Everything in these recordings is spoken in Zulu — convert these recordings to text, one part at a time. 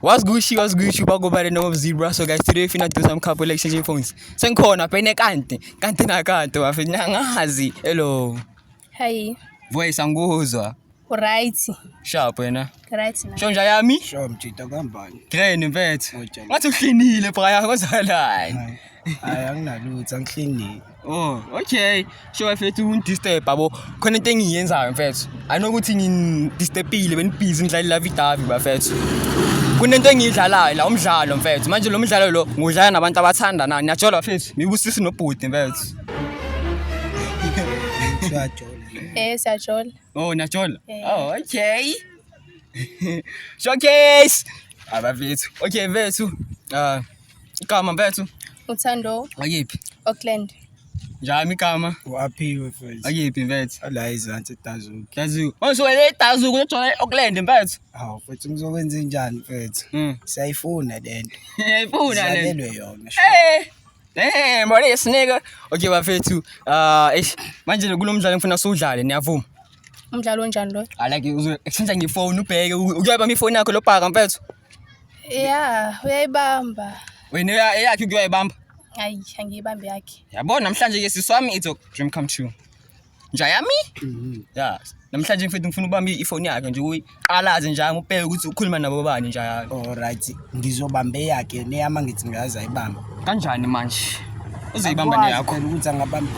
What's Gucci, what's Gucci, but go by the name of Zebra. So guys, today we finna do some couple exchanging phones. Senkhona, pene kante, kante na kante, wafina ngazi. Hello. Hi. Voice anguzwa. Right. Sharp wena. Right na. Shonja yami? Sure mjita kambani. Train mfethu. Ngathi uhlinile phaya kozalani. Hayi anginalutho, angihlingile. Oh, okay. Sho mfethu ungidisturb yabo. Khona into engiyenzayo mfethu. I know ukuthi ngidistepile benibhizi ngidlala la vidavi bafethu. Kunento engiyidlalayo la umdlalo mfethu. Manje lo mdlalo lo ngudlala nabantu abathanda nani. Ngiyajola mfethu. Ngibusisi nobhuti mfethu. Eh siyajola. Oh, ngiyajola. Eh. Oh, okay. Showcase. Abafethu. Okay mfethu. Ah. Igama mfethu. Uthando. Akiphi. Auckland. Njami igama. Uaphiwe mfethu. Akiphi mfethu. Ala izansi dazu. Dazu. Manje wena dazu kuthola Auckland mfethu. Hawu mfethu ngizokwenza njani mfethu? Mm. Siyayifuna lento. Yayifuna lento. Silalelwe yona. Eh. Eh, mbona yesineke. Okay bafethu. Ah, eish. Manje kulomdlalo ngifuna siwudlale, niyavuma? Umdlalo onjani lo? Alake uzokushintsha ngefone ubheke. Uyoyibamba ifone yakho lobhaka mfethu. Yeah, uyayibamba. Wena eyakhe uke uyayibamba? Hayi, angiyibambe yakhe. Yabona namhlanje ke sisi wami it's a dream come true. Nja yami? Mhm. Yeah. Namhlanje mfethu ngifuna ubamba ifoni yakhe nje uyiqalaze nje ngibheke ukuthi ukhuluma nabo bani nje. Alright, ngizobamba eyakhe neyama ngithi ngaza ibamba. kanjani manje uzoyibamba Akwazi neyakho phela ukuthi angabamba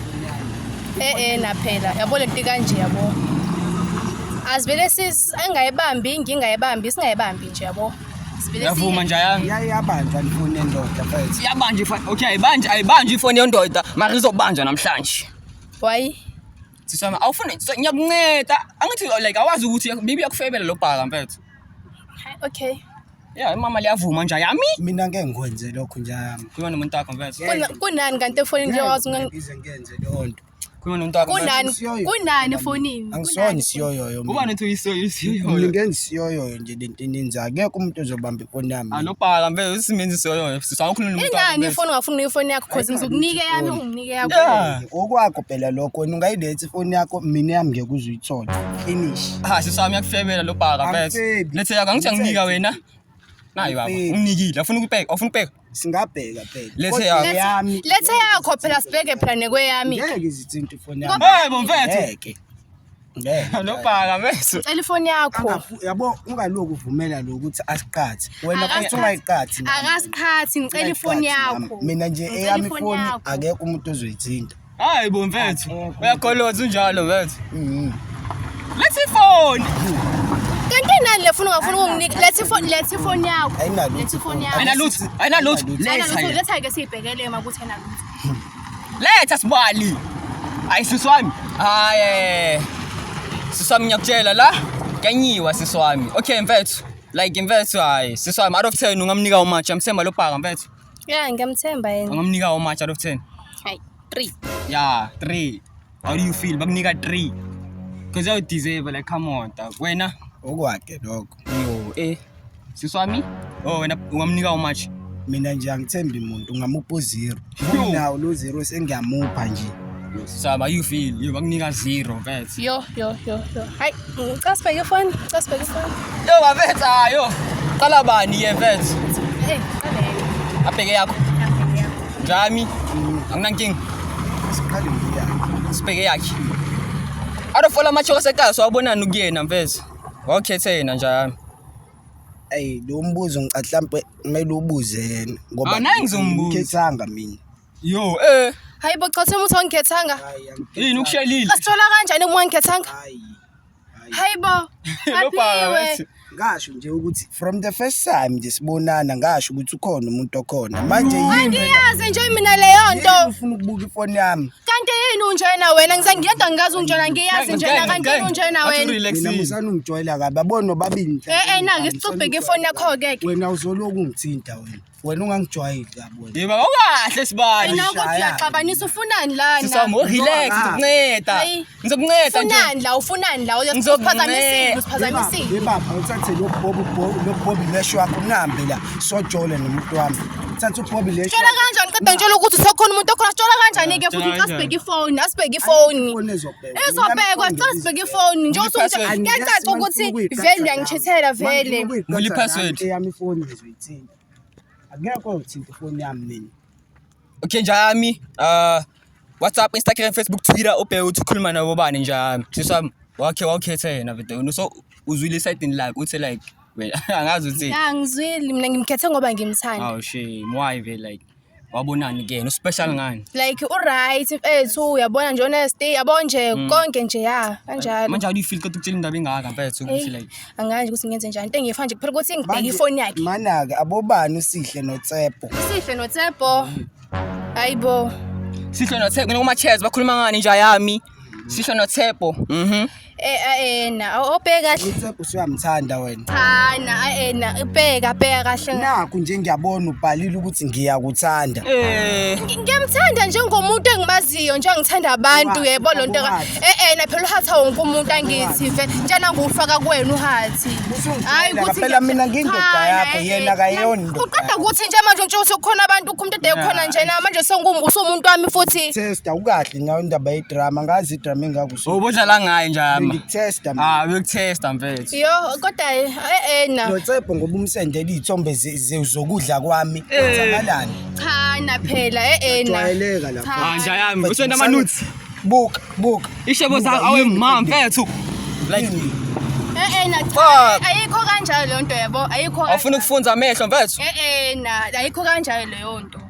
Eh eh naphela. Yabo lento ikanje yabo. Azivele sis engayibambi ngingayibambi singayibambi nje yabo. Sivele yavuma nje ayanga yaye yabanjwa ndifuna endoda mfethu iyabanje ifo- okay ayibanje ayibanje ifoni yondoda mara izobanja namhlanje Why? sisi wami awufuni so, ngiyakunceda angithi like awazi ukuthi maybe yakufebela lo bhaka mfethu Okay. Yeah, imama liyavuma nje yami. Mina ngeke ngikwenze lokho nje yami. Khuluma nomuntu wakho mfethu. Kuna- kunani kanti efonini nje wazi unga- Ngize ngenze leyo nto. Khuluma nomuntu wakho. mfethu. kunani Siyoyo. kunani efonini Angisona Kunani? isiyoyoyo Kuba mina. nothi uyisoyo Mina isiyoyo. ngeke ngisiyoyoyo nje lento ininzi. Akekho umuntu ozobamba ifoni yami. Alopaka mfethu usimenzi isiyoyo. Sisa ukhuluma nomuntu wakho. ingani mfethu. ifoni ungafuni ifoni yakho cause ngizokunike yami unginike yakho Yeah. Okwakho phela lokho wena ungayilethi ifoni yakho mina yami ngeke uze uyithole finish ha sisami yakufebela lo bhaka bese Angifebi. lethe yakho angithi anginika wena nayi baba Angifebi. unginikile afuna ukubheka afuna ukubheka singabheka phela Lethe Kodwa yakho. eyami lethe yakho phela sibheke phela nekweyami ngeke izithinta ifoni yami hey bomfethu ngeke ngeke lo bhaka bese cela ifoni yakho Angafu- yabo ungaloku uvumela lo ukuthi asiqathi wena Akasi- futhi ungayiqathi nami. akasiqhathi ngicela ifoni Ungayiqathi nami. yakho mina nje Ngicela eyami ifoni ifoni yakho. akekho umuntu ozoyithinta Hayi bo mfethu. Uyagoloza unjalo mfethu. Mhm. Let's phone. Kanti nani lefuna ungafuna ukunginika let's phone let's phone yakho. Ayinalo. Let's phone yakho. Ayina lutho. Ayina lutho. Letha. Letha ke sibhekele makuthi ayina lutho. Letha sibali. Hayi sisi wami. Hayi. Eh. Sisi wami ngiyakutshela la. Kanyiwa sisi wami. Okay mfethu. Like mfethu hayi. Sisi wami out of 10 ungamnika umatch. Amsemba lobhaka mfethu. Yeah, ngiyamthemba yena. Ungamnika how much out of 10? Hayi, 3. Yeah, 3. How do you feel? Bakunika 3. Cause you deserve like come on. dog. Wena okwakhe lokho yo eh sisi wami oh wena ungamnika how much mina nje angithembi muntu ungamupha u-zero Yo. nawo lo zero sengiyamupha nje Saba you feel you bakunika zero mfethu. Yo yo yo yo. Hay ucasbe your phone, ucasbe your phone. Yo bafethu ayo. Qala bani ye mfethu? Hey, qale. Abheke yakho. Abheke yakho. Jami. Anginankinga. Siqale ngiya. Sibheke yakhe. Out of all amacho asekaya sawabonani kuyena mfethu. Wawukhethe yena njalo. Ey lo mbuzo ngicahlampe kumele ubuze yena ngoba ngizombuza. Ngithanga mina. Yo, eh. Hayi bo cha uthemba ukuthi awungikhethanga. Yini ukushelile? Asithola kanjani uma ungikhethanga? Hayi. Hayi bo. Aphiwe. ngasho nje ukuthi from the first time nje sibonana ngasho ukuthi ukhona umuntu okhona manje yini angiyazi nje mina leyo nto ufuna ukubuka ifoni yami kanti yini unjena wena ngisangiyedwa ngikazi unjena ngiyazi njena kanti yini unjena wena mina ngisana ungijwayela kabi abona nobabili eh eh na ngisicubheke ifoni yakho ke wena uzoloku ungithinta wena wena ungangijwayeli yabo wena yeba okahle sibani Wena ukuthi Shaya. uyaxabanisa ufunani lana? sisamu relax Noma. ngizokunceda Hayi. ngizokunceda nje Ufunani la, ufunani la? Uya- Ngizokunceda. Uphazamisile, uphazamisile. bebapha uthathe lobobi lesho wakho nihambe la sojole nomuntu wami thatha ubobi lesho Tshela kanjani qeda ngitshela ukuthi sokhona umuntu okhona sitshela kanjani ke futhi Tshela asibheke ifoni asibheke ifoni izobhekwa sicela sibheke ifoni njengoba Password. usuyacaca ukuthi vele uyangithethela vele Ngili password. eyami ifoni Thinta. Akekho ongithinta ifoni yami mina. Okay njami uh WhatsApp, Instagram, Facebook, Twitter ubheke ukuthi ukhuluma nabo bani njami. Sisami wakhe wawukhetha yena bidona. So uzwile side like uthi like wena angazi uthi. Angizwile mina ngimkhethe ngoba ngimthanda. Oh shame why be like wabonani kuyena uspecial ngani like uright mfethu uyabona nje honesty yabo nje mm. konke nje ya kanjalo manje how do you feel kodwa ukutshela indaba engaka mfethu ukuthi like anganje ukuthi ngenze njani into engiyifa nje kuphela ukuthi ngibheke ifoni yakhe manake abobani usihle notsepho usihle notsepho hayibo sihle notsepho noma chairs bakhuluma ngani nje yami sisho noThebo mhm eh ayena obheka kahle uThebo siyamthanda wena cha na ayena ubheka bheka kahle nakho nje ngiyabona ubhalile ukuthi ngiyakuthanda eh ngiyamthanda njengomuntu engimaziyo nje ngithanda abantu yebo lonto eh eh na phela uhatha wonke umuntu angithi ve njana ngufaka kuwena uhathi hayi ukuthi phela mina ngindoda yakho eh, yena akayona indoda uqeda ukuthi nje manje nje usukhona abantu ukhumntu ade khona nje na manje sengumuntu wami futhi Sister ukahle ngidinga indaba yedrama ngazi idrama engako so ubudlala ngayo njama ngikutesta mina ah bekutesta mfethu yo kodwa eh na notsepho ngoba umsendela izithombe zokudla kwami kwenzakalani eh. cha na phela eh na jwayeleka lapha manje ah, yami usenda amanuts buka buka ishebo zakho awe mama mfethu like eh eh na ayikho kanjalo lento yabo ayikho awufuna ukufunza amehlo mfethu eh eh na ayikho kanjalo leyo nto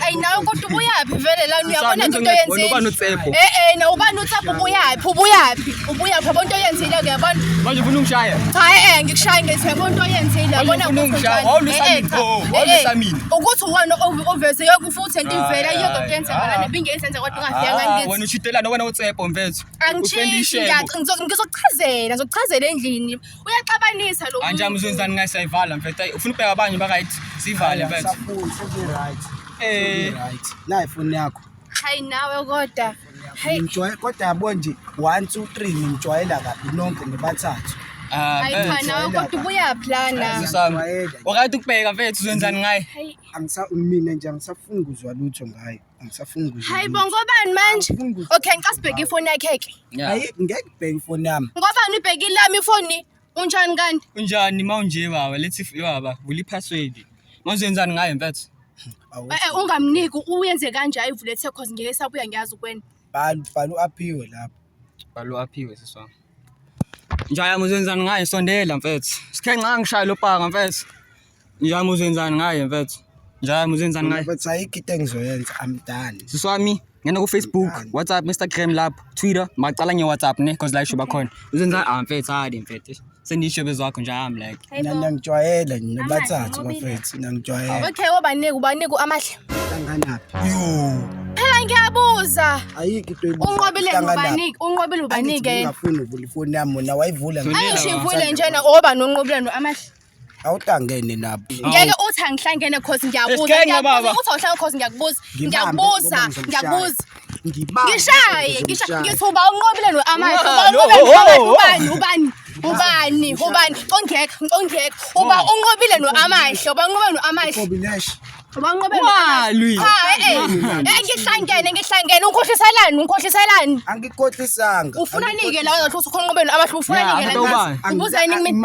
Ayi nawe kodwa ubuyaphi vele lana uyabona into oyenzile. Ubani uTsepho? Eh eh na ubani uTsepho ubuyaphi? Ubuyaphi? Ubuyaphi yabona into oyenzile uyabona? Manje ufuna ungishaya? Cha eh, eh ngikushaye ngezi yabona into oyenzile yabona ukuthi wawulisa eh, eh, mina. Oh, wawulisa mina. Ukuthi uwona ovese yoku futhi into ivela ah, yodwa kuyenza ngala nebingenza enza kodwa ungafika ah, ngithi. Wena uchidelana wena uTsepho mfethu. Angishintshi ngizokuchazela, ngizokuchazela endlini. uyaxabanisa lo anje amuzenzani ngayisayivala mfethu ayi ufuna ubheka abanye bakayithi sivale mfethu eh nayi foni yakho hayi nawe kodwa hayi ngimjwayela kodwa yabo nje 1 2 3 ngimjwayela kabi nonke nibathathu ah, hayi cha nawe kodwa ubuya plana wakade ukubheka mfethu uzenzani ngaye angisawumina nje angisafuni kuzwa lutho ngayo angisafuni ukuzwa hayi bo lutho. ngobani manje Angifuni ukuzwa okay ngicela sibheke ifoni yakhe ke Yeah. Ayi, ngeke ubheke ifoni yami ngobani ubheke ilami ifoni unjani kanti unjani ma unje baba lethi f- baba vula iphaswedi ma uzoyenzani ngayo mfethu Awu, Eh, eh, ungamniki uyenze kanje ayivule the cause ngeke sabuya ngiyazi ukwena bhala bhala u-aphiwe lapho Balo aphiwe sisi wami. Njayama uzenzani ngaye sondela mfethu. Sikhe nxa ngishaya lo paka mfethu. Njayama uzenzani ngaye mfethu. Njayama uzenzani ngaye. But ayikho into engizoyenza I'm done. Sisi wami ngena ku Facebook, Done. WhatsApp, Instagram lapho, Twitter, macala nge WhatsApp ne cause la isho bakhona. Uzenzani ah mfethu hadi mfethu. sendisho bezwakho nje I'm like Hey, Mina bo. niyangijwayele nina Amahle, bathathu bobile. bafethu niyangijwayele okay obanike ubanike amahle hlanganaphi yo phela ngiyabuza ayikho into ebuza, unqobile hlanganaphi. ubanike unqobile Angithi ubanike yena ngingafuni uvula ifoni yami mona wayivula Thulile, ngisho. angisho ivule njena oba nonqobile no amahle awutangene lapho ngeke uthi angihlangene cause ngiyabuza Isikhenge, baba. ngiyabuza uthi awuhlangene cause ngiyakubuza Ngibambe, ngiyakubuza ngoba ngizomshaya. ngiyakubuza ngibani ngishaye ngishaye ngithi uba unqobile no amanye uba unqobile no ubani ubani ubani ubani ongekho ongekho uba unqobile no amanye uba unqobile no amanye Walwi. Cha eh. eh ngihlangene ngihlangene unkhohliselani unkhohliselani. Angikhohlisanga. Ufuna nike la uzothi ukhonqobeni abahlu ufuna nike la. Ubuzani kimi.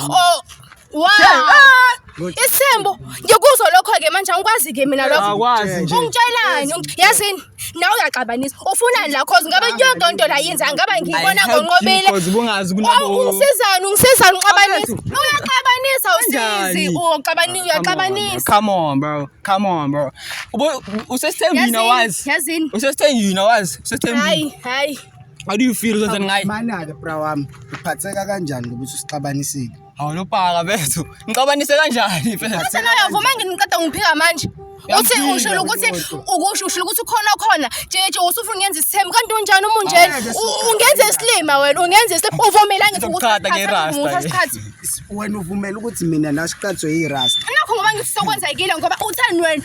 Oh, wow. Eh, Isembo ngiyokuzwa lokho ke manje angikwazi ke mina lokho. Akwazi nje. Ungitshelani? Ungi- Yazini nawe uyaxabanisa. Ufunani la cause ngabe yonke into la yenza ngaba ngiyibona ngonqobile. Cause bungazi Oh, kunabo. ungisizani ungisizani uxabanisa. Uyaxabanisa usizi. Kanjani? Uxabanisa uyaxabanisa. Come on bro. Come on bro. Ubo usesithembini Yazini, awazi. Yazini. Usesithembini awazi. Usesithembini. Hayi, hayi. How do you feel ukuthi ngayi? Manake bra wami, uphatheka kanjani ngoba usixabanisile? Hawu lopaka bethu. Ngixabanise kanjani phela? Sena uyavuma ngiqeda ngiphika manje. Uthi usho ukuthi ukusho usho ukuthi ukhona okhona. Jeje usufuna ngenza isithembu kanti unjani umunjena? Ungenza isilima wena, ungenza isilima. Uvumela ngithi ukuthi wena uvumela ukuthi mina nasiqathwe yirasta. Nakho ngoba ngifisa ukwenza ikile ngoba uthani wena?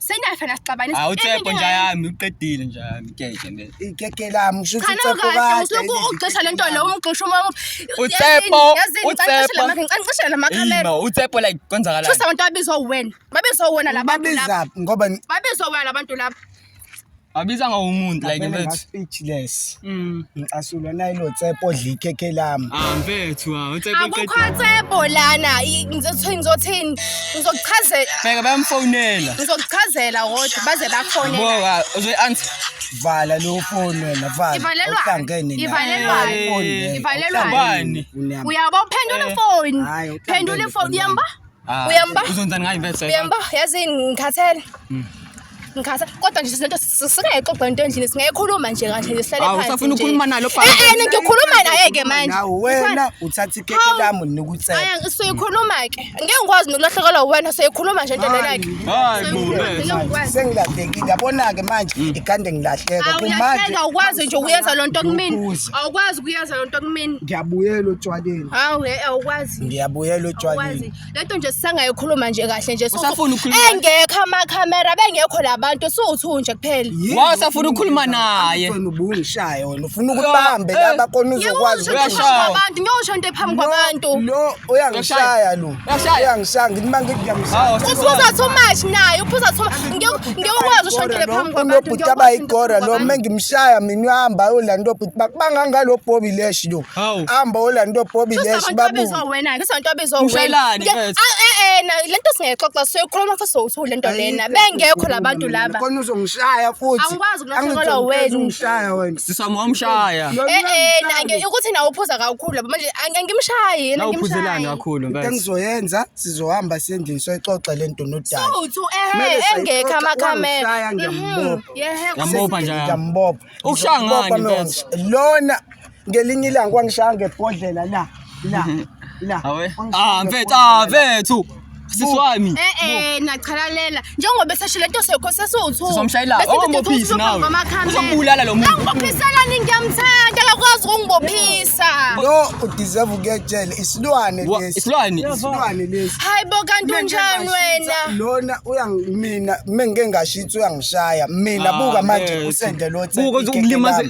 sengiyafana sixabane hawu tshepo nja yami uqedile nja yami keke le keke lami usho ukuthi tshepo kahle usuku ugxisha lento lo umgxisha uma utsepo utsepo ngicishela la makhamera no utsepo like kwenzakala shusa abantu abizwa wena babizwa wena labantu laba ngoba babizwa wena labantu laba Abiza nga umuntu like Ngavele mfethu. nga-speechless Mm. ngicasulwa nayilo tsepo odla ikhekhe lami Ah mfethu ah uTsepo akukho uqedile. tsebo lana I- ngizothi- ngizothini ngizokuchazela Bheka bayamfonela. ngizokuchazela kodwa baze bakhone Bo ah, uzoyi answer. vala leyo foni wena vala Ivalelwa- Awuhlangene nayo. ivalelwa- Hayi, foni leyo. ivalelwa- Awuhlangene Bani? nayo. uyabo phendula ifoni Hayi, awuhlangene phendula ifoni foni yamba Ah, Uyamba? Uzonzani ngayo imvelo sasa? Uyamba? Yazi ngikhathele. Mm. Ngikhatha kodwa nje sinento singayixoxa into endlini singayikhuluma nje kanje nje sihlale phansi. Awusafuna ukukhuluma nalo baba. Eh eh ngikhuluma naye ke manje. Nawe wena uthatha ikeke lami nikutsela. Aya ngisuyikhuluma ke. Ngeke ngikwazi nokulahlekelwa wena soyikhuluma nje into lena ke. Hayi bo. Sengilahlekile yabona ke manje mm. ikande ngilahleka kumanje. Awuyahleka ukwazi nje ukuyenza lonto kumina. Awukwazi ukuyenza lonto kumina. Ngiyabuyela otshwaleni. Hawu hey awukwazi. Ngiyabuyela utshwaleni. Lento nje sisangayikhuluma nje kahle nje usafuna ukhuluma. Engekho ama camera bengekho labantu siwuthu nje kuphela. Wa usafuna ukhuluma naye. Ufuna ubungishaya wena ufuna ukubambe eh, laba kona uzokwazi ukuyashaya. Abantu ngiyosho into ephambi kwabantu. Lo uyangishaya lo. Uyangishaya ngithi mangikuyamshaya. Uphuza too much naye uphuza too much. Ngiyokwazi usho into ephambi kwabantu. Ubhuti abayigora lo mengimshaya mina uhamba ulanto ubhuti bakubanga ngalo bhobi leshi lo. Hawu. Hamba olanto Bobby Lesh babu. Sasabantwabizwa wena, ngisabantwabizwa wena. Ushayelani mfethu? Eh na lento singexoxa siyokhuluma futhi sowuthu lento lena. Bengekho labantu laba. Khona uzongishaya futhi. Angikwazi ukulahlekelwa wena. Ungishaya wena. Sisamo umshaya. Eh eh na nge ukuthi na uphuza kakhulu laba manje angimshayi yena ngimshayi. Uphuzelani kakhulu mfethu? Engizoyenza sizohamba sendlini soyixoxa lento nodala. Sowuthu eh engekho amakhamera. Ngiyambopha. Ngiyambopha njalo. Ngiyambopha. Ukushaya ngani mfethu? Lona ngelinye ilanga kwangishaya ngebhodlela la la la Awe. Ah mfethu, ah mfethu. Sisi wami. Eh eh niyachalalela njengoba esesho lento sekho sesiwuthu. Sizomshayela. Ongibophisi nawe. Uzombulala lo muntu. Angibophisela nini ngiyamthanda akakwazi ukungibophisa. Yo udeserve ukuyetshela isilwane Wa- lesi. Isilwane. Isilwane lesi. Hayibo kanti unjani wena? Lona uyangimina mengike ngashitha uyangishaya. Mina Ah, buka manje mfethu. usende lo Buka ukuthi ukulimaze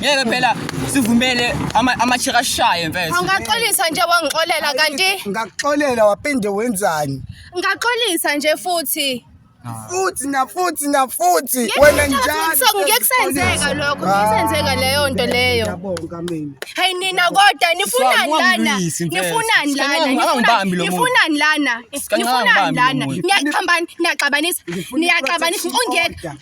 ngeke phela sivumele ama- amachika ashaye mfethu Ungaxolisa nje wangixolela kanti ngakuxolela wapinde wenzani ngaxolisa nje futhi. futhi nafuthi nafuthi Ngeke wena ngeke njalo ngikuso- ngeke kusenzeka lokho, ngeke kusenzeka leyo nto leyo. Ngiyabonga mina Hey nina kodwa nifunani Swa, lana? ungamlwisi, mfethu. Nifunani Sicela lana? unga- ungangibambi lo muntu. Nifunani lana? Sicela Nifunani ungangibambi lo lana? muntu. Niyaxhambana, niyaxabanisa, Ngifuna niyaxabanisa. i-project Ungeke, order.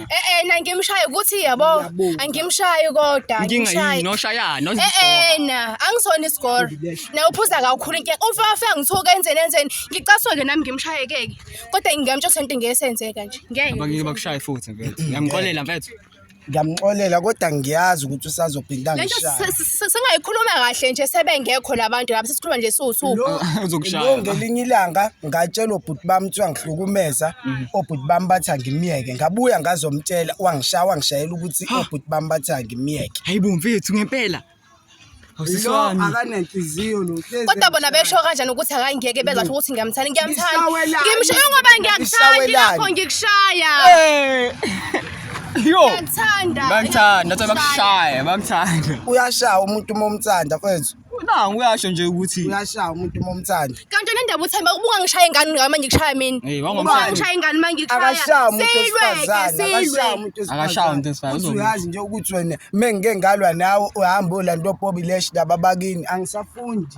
Eh eh na ngimshaye ukuthi yabo Ngiyabonga. angimshayi kodwa inkinga yini angimshayi. noshayana Eh ozisora eh na angisona isigoro. Na uphuza kakhulu inkinga. Ufa ufa ngithuka enzeni enzeni. Ngicaswa ke nami ngimshaye keke. Kodwa ngingamtsho sento ngesenzeka nje. Ngeke. abangeke bakushaye futhi mfethu ngiyamxolela mfethu ngiyamxolela kodwa ngiyazi ukuthi usazophinda Lento ngishaye se- se- S- Singayikhuluma kahle nje sebengekho labantu lapha sesikhuluma nje siwusuku. Lo- Uzokushaya lo la. ngelinye ilanga ngatshelwa obhuti bami kuthiwa ngihlukumeza obhuti bami bathi angimyeke ngabuya ngazomtshela wangishaya wangishayela ukuthi obhuti bami bathi angimyeke Hayi bo mfethu ngempela. lo Awusiswani. akanenhliziyo lo hlezi Kodwa bona emshaya. besho kanjani ukuthi akangeke bezasho ukuthi ngiyamthanda ngiyamthanda. Ngisawelani? Ngimshaye ngoba ngiyakuthanda Ngisawelani? lapho ngikushaya. Eh. Yo. Ngithanda. Bangithanda, uthi bakushaya, bangithanda. uyashaya umuntu uma umthanda mfethu Na uyasho nje ukuthi uyashaya umuntu uma umthanda Kanti nendaba uthemba ubuka ngishaye ingane ngami manje ngishaya mina. hey Ubuka wangomshaya. ngishaye ingane manje ngishaya. akashaya umuntu Silweke, wesifazane akashaya silwe. umuntu Akashaya umuntu wesifazane, Uthi uzobuya. uyazi nje ukuthi wena mengike ngalwa nawe uhamba ulanda opobi lesh laba bakini angisafundi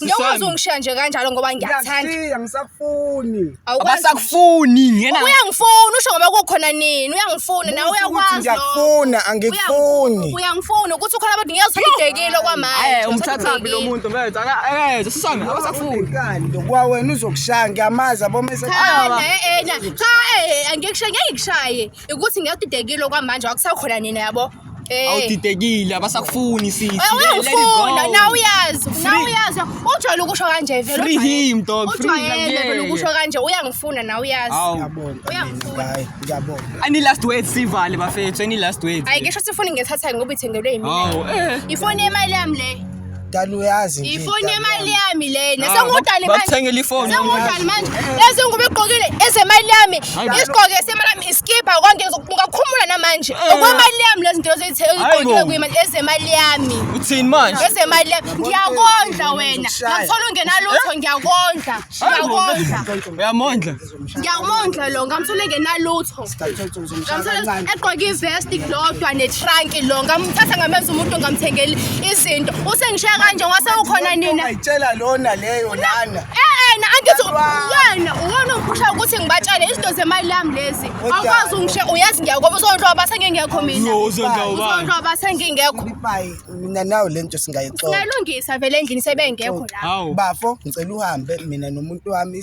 Njengoba ungishiya nje kanjalo ngoba ngiyakuthanda. Ngiyakushiya ngisakufuni. Abasakufuni ngena. Uyangifuna usho ngoba kukhona nini? Uyangifuna nawe uyakwazi. Ngiyakufuna angikufuni. Uyangifuna ukuthi ukhona abantu ngiyazididekile okwamanje. Eh umthathaphi lo muntu mfethu. Eh sisami abasakufuni. Kwa wena uzokushaya ngiyamazi abomese. Cha eh, eh cha eh angikushaye ngikushaye. ukuthi ngiyadidekile okwamanje akusakhona nina yabo Eh. awudidekile abasakufuni sisi Eh, Let- let it uyangifuna go. nawe uyazi nawe Free- uyazi ujwayele ukusho kanje vele Free ujwayele- him, dog. Free him, ujwayele yeah, vele ukusho yeah. kanje uyangifuna nawe uyazi Awu. Ngiyabonga. Uyangifuna. Hayi, ngiyabonga. any last words sivale bafethu any last words hayi ngisho sifuni ngithatha ngoba ithengelwe yimina awu eh ifoni yemali yami le dala uyazi nje ifoni dala yemali yami. yami lena Ah, sengudali bak- manje bakuthengele ifoni. sengudali manje lezi nguba igqokile ezemali yami Hayi bo. isigqoke semali yami iskibha konke ngizokubuka khumula namanje Eh. okwemali yami lezi nto Hayi ezigqokile bo. kuyimali ezemali yami Uthini manje? ezemali yami ngiyakondla wena Ngizokshaya. ngakuthola ungenalutho ngiyakondla Hayi bo. ngiyakondla Uyamondla. ngiyawumondla lo ngamthole ngenalutho ngamthole egqoke ivesti lodwa netranki lo ngamthatha ngamenza umuntu ngamthengeli izinto usengishiya kanje wase ukhona nina ayitshela lona leyo lana yena eh, angithi yena uwona uphusha ukuthi ngibatshele izinto zemali yami lezi awukwazi ungishe uyazi ngiyakoba uzondloba base ngingekho mina uzondloba base ngingekho mina nawe le nto singayixoxa singayilungisa vele endlini sebengekho la bafo ngicela uhambe mina nomuntu wami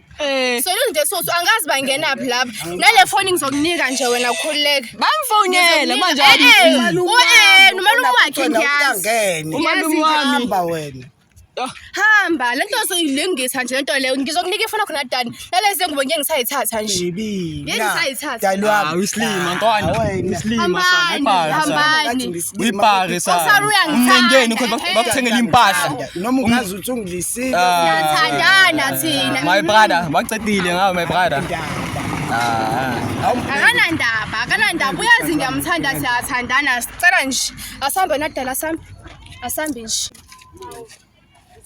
Eh. Selunde soso angazi bangenaphi lapha. Nale foni ngizokunika nje wena ukhululeke. Bamfonele manje Eh, eh, u- eh, nomalume wakhe ngiyazi. umalume wami hamba wena Hamba, lento soyilungisa nje lento leyo. Ngizokunika ifoni yakho nadani. Nalezi ngubo ngeke ngisayithatha nje. Yini sayithatha? Ah, uyisilima ntwana uyisilima sana Hambani, ibhaka sana hambani. uyibhake sana Usaruyangithanda. umngeni ukuthi bak- bakuthengele impahla noma ungazi Usungidlisile. Siyathandana thina. My brother, waqedile ngawe my brother. Ah. Akanandaba, akanandaba. Uyazi ngiyamthanda siyathandana. Sicela nje asambe nadala sami. Asambe nje.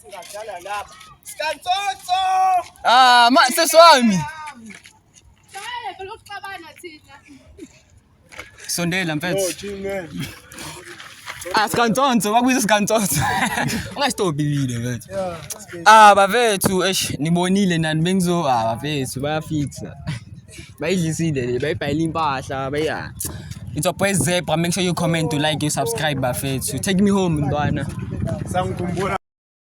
Singadlala lapha. Sikansotso. Ah, ma seswami. Shaya phela ukuxabana thina. Sondela mfethu. Oh, Jimmy. Ah, sikantsonso kwakuyiso sikantsonso ungastobile mfethu ah bafethu eish nibonile nani bengizo ah bafethu bayafixa bayidlisile le bayibhayile impahla baya It's your boy Zebra. Make sure you comment, you like, you subscribe, bafethu. Take me home, ntwana. Sangikhumbula